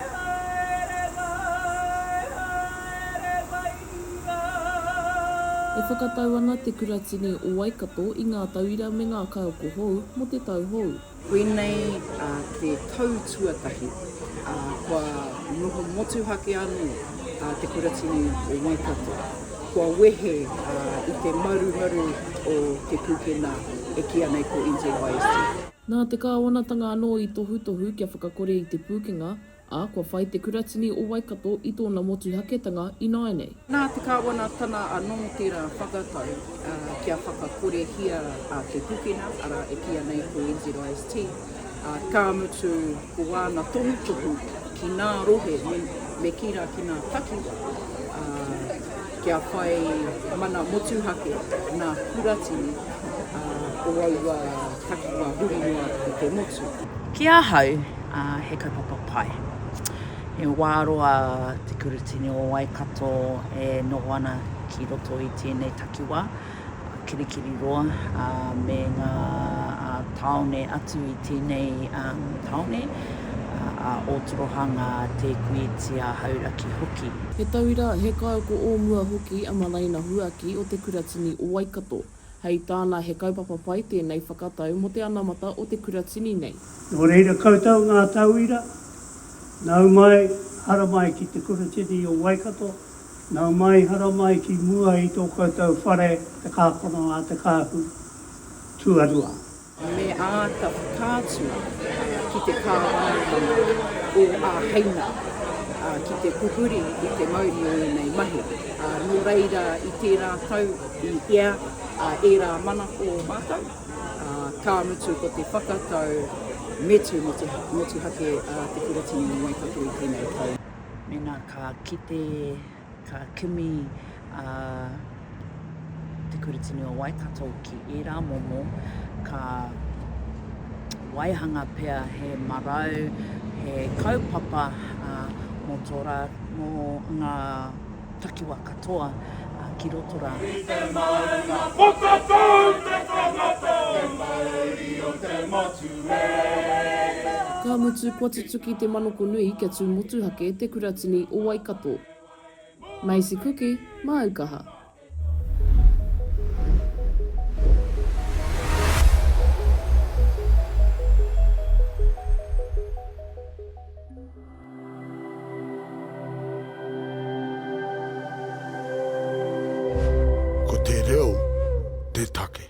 Haere mai, haere mai rā. E whakatau ana Te Kuratini o Waikato i ngā tauira me ngā kaiako hou mō te tau hou. Koinei te tau tuatahi kua noho motuhake anō Te Kuratini o Waikato, kua wehe i te marumaru o te pūkenā e kīia nei ko NZYST. Nā te kāwanatanga anō i tohutohu kia whakakore i te pūkenga, ā, kua whai te Kuratini o Waikato i tōna motuhaketanga ināianei. Nā te kāwanatana anō tērā whakatau kia whakakorehia te pūkenga, arā, e kīia nei ko NZIST, ā, ka mutu ko āna tohutohu ki ngā rohe, me kī rā ki ngā takiwā, ā, Kia whai mana motuhake ngā kuratini o aua takiwā huri noa i te motu. Ki ahau, he kaupapa pai. He wā roa te kuratini o Waikato e noho ana ki roto i tēnei takiwā. Kirikiri roa, ā, me ngā tāone atu i tēnei tāone, ā, Ōtoroha, Ngā Tēkuitia, Hauraki hoki. He tauira, he kaiako o mua hoki a Malaina Huaki o Te Kuratini o Waikato. Hei tāna he kaupapa pai tēnei whakatau mō te anamata o te kuratini nei. Nō reira koutou ngā tauira, nau mai, haramai ki Te Kuratini o Waikato. Nau mai, hara mai ki mua i tō koutou whare te kākano a te kāhu tuarua. Me āta whakaatu ki te kāwanatanga o āheinga ki te pupuri i te mauri o ēnei mahi. Nō reira, i tērā tau i ea ērā manako mātou, ka mutu ko te whakatau metu motuhake te Kuratini o Waikato i tēnei tau. Mēnā ka kite, ka kimi a Te Kuratini o Waikato ki ērā momo, ka waihanga pea he marau, he kaupapa mō tō rā, mō ngā. takiwa katoa ki roto ra. I te maunga whakatau te tangata. Te mauri o te motu e. Ka mutu kua tutuki te manoko nui kia tu motuhake te kuratini o Waikato. Macy Kuki, Māu Kaha. Ko te reo te take.